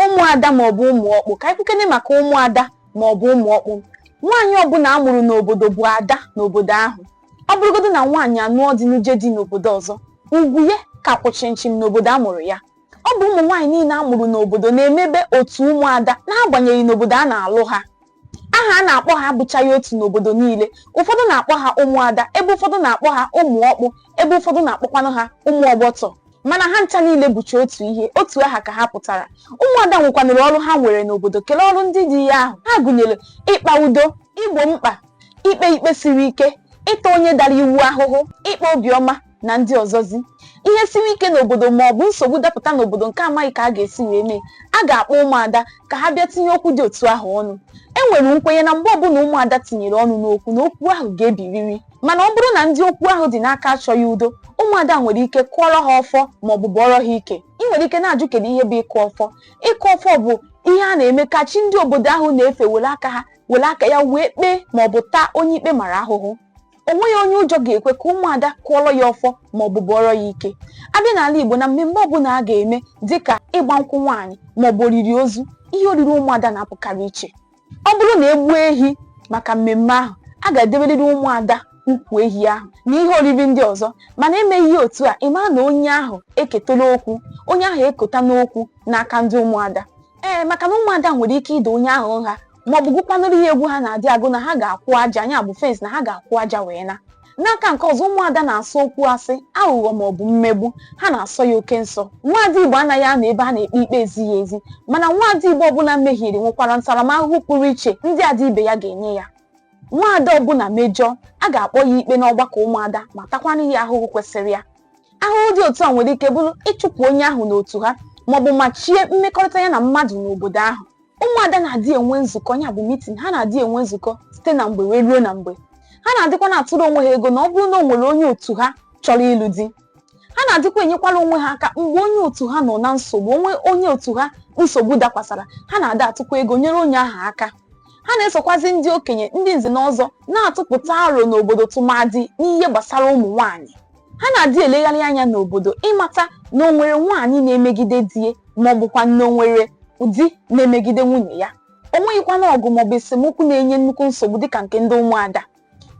ụmụada maọbụ ụmụ ọkpụ ka anyị kwukene maka ụmụada maọbụ ụmụ ọkpụ nwaanyị ọbụla a mụrụ n'obodo bụ ada n'obodo ahụ ọ bụrụgodu na nwaanyị anụọ di nụje di n'obodo ọzọ ugwu ya ka kwụ chịmchịm n'obodo a mụrụ ya ọ bụ ụmụ nwaanyị niile a mụrụ n'obodo na-emebe otu ụmụada n'agbanyeghị n'obodo a na-alụ ha aha a na-akpọ ha abụchaghị otu n'obodo niile ụfọdụ na-akpọ ha ụmụada ebe ụfọdụ na-akpọ ha ụmụ ọkpụ ebe ụfọdụ na-akpọkwanụ ha ụmụ ọgbọtọ mana ha ncha niile bụcha otu ihe otu aha ka ha pụtara ụmụada nwekwanụrụ ọrụ ha nwere n'obodo kelee ọrụ ndị dị ya ahụ ha gụnyere ịkpa udo igbo mkpa ikpe ikpe siri ike ịta onye dara iwu ahụhụ ịkpa obiọma na ndị ọzọzi ihe siri ike n'obodo ma ọ bụ nsogbu dapụta n'obodo nke a maghị ka a ga-esi wee mee a ga-akpọ ụmụada ka ha bịa tinye okwu dị otu ahụ ọnụ e nwere nkwenye na mgbe ọbụla ụmụada tinyere ọnụ n'okwu na okwu ahụ ga-ebiriri mana ọ bụrụ na ndị okwu ahụ dị n'aka achọghị udo ụmụada nwere ike kụọrọ ha ọfọ ma ọ bụ bọọrọ ha ike ị nwere ike na-ajụ kedu ihe bụ ịkụ ọfọ ịkụ ọfọ bụ ihe a na-eme ka chi ndị obodo ahụ na-efe were aka ha were aka ya wee kpee ma ọ bụ taa onye ikpe mara ahụhụ o nweghị onye ụjọ ga-ekwe ka ụmụada kụọrọ ya ọfọ ma ọ bụ bọọrọ ya ike a bịa n'ala Igbo na mmemme ọbụla a ga-eme dịka ịgba nkwụ nwaanyị ma ọ bụ oriri ozu ihe oriri ụmụada na-apụkarị iche ọ bụrụ na e gbuo ehi maka mmemme ahụ a ga-edeberịrị ụmụada ukwu ehi ahụ na ihe oriri ndị ọzọ mana e meghị ya otu a ị mara na onye ahụ eketala okwu onye ahụ ekotana okwu n'aka ndị ụmụada ee maka na ụmụada nwere ike ịda onye ahụ nha maọbụ gụkwanụrụ ya egwu ha na-adị agụ na ha ga-akwụ aja nya bụ fence na ha ga-akwụ aja wee naa n'aka nke ọzọ ụmụada na-asọ okwu asị aghụghọ maọbụ mmegbu ha na-asọ ya oke nsọ nwaada igbo anaghị anọ ebe a na-ekpe ikpe ezighị ezi mana nwaada igbo ọbụla mehiere nwekwara ntaramahụhụ pụrụ iche ndị ada ibe ya ga-enye ya nwaada ọbụla mejọọ a ga-akpọ ya ikpe n'ọgbakọ ụmụada ma takwana ya ahụhụ kwesịrị ya ahụhụ dị otu a nwere ike bụrụ ịchụpụ onye ahụ n'otu ha maọbụ machie mmekọrịta ya na mmadụ n'obodo ahụ ụmụada na-adị enwe nzukọ ya bụ meeting ha na-adị enwe nzukọ site na mgbe wee ruo na mgbe ha na-adịkwa na-atụrụ onwe ha ego na ọ bụrụ na o nwere onye otu ha chọrọ ịlụ di ha na-adịkwa enyekwara onwe ha aka mgbe onye otu ha nọ na nsogbu o nwee onye otu ha nsogbu dakwasara ha na-adị atụkwa ego nyere onye ahụ aka ha na-esokwazi ndị okenye ndị nze na ọzọ na-atụpụta aro n'obodo tụmadị n'ihe gbasara ụmụ nwaanyị ha na-adị elegharị anya n'obodo ịmata na o nwere nwaanyị na-emegide di ya ma ọ bụkwa na o nwere di na-emegide nwunye ya o nweghịkwana ọgụ maọbụ esemokwu na-enye nnukwu nsogbu dịka nke ndị ụmụada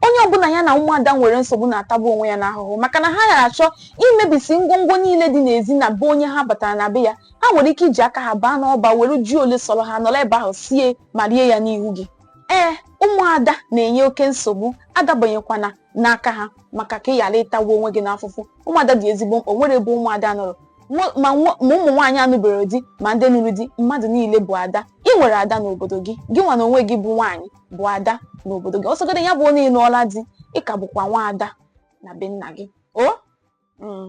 onye ọbụla ya na ụmụada nwere nsogbu na-atagbu onwe ya n'ahụhụ maka na ha na-adị achọ imebisi ngwongwo niile dị n'ezi na be onye ha batara na be ya ha nwere ike iji aka ha baa n'ọba were ji ole sọrọ ha nọrọ ebe ahụ sie ma rie ya n'ihu gị ee ụmụada na-enye oke nsogbu adabanyekwana n'aka ha maka ka ị ghara ịtagbu onwe gị n'afụfụ ụmụada dị ezigbo mkpa nwere ebe ụmụada nọrọ ma ụmụ nwaanyị anụbere di ma ndị nụrụ di mmadụ niile bụ ada i nwere ada n'obodo gị gị nwa na onwe gị bụ nwaanyị bụ ada n'obodo gị ọ sọgode ya bụ na ị nụọla di ị ka bụkwa nwa ada na be nna gị o mm.